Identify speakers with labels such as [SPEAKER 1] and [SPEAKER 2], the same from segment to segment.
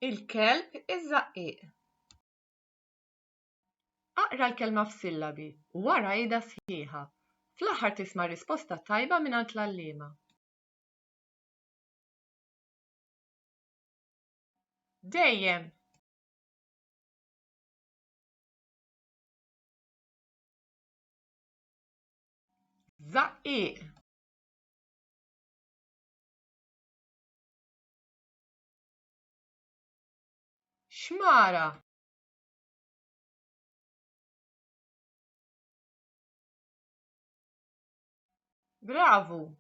[SPEAKER 1] Il-kelb iż-żaqqieq. Aqra l-kelma f'sillabi u wara għidha sħiħa. Fl-aħħar tisma' risposta tajba mingħand l-għalliema. Dejjem. Żaqqieq. xmara bravu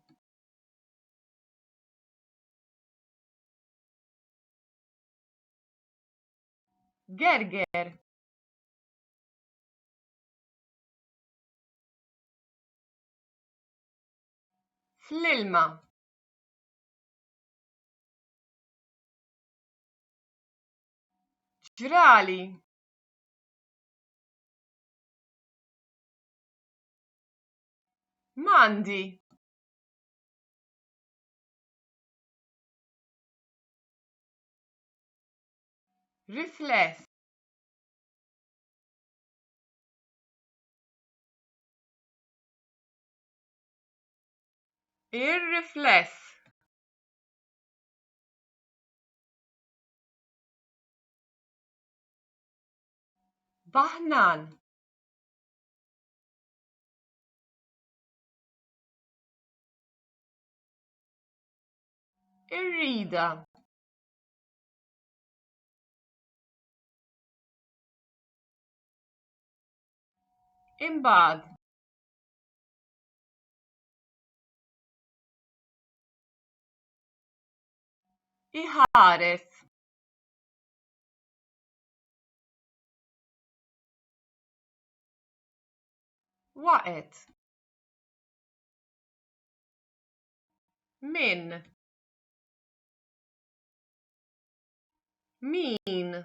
[SPEAKER 1] gerger fl-ilma ġrali m'għandi rifless Ir-rifless Baħnan Ir-rida Imbagħad iħares waqgħet min min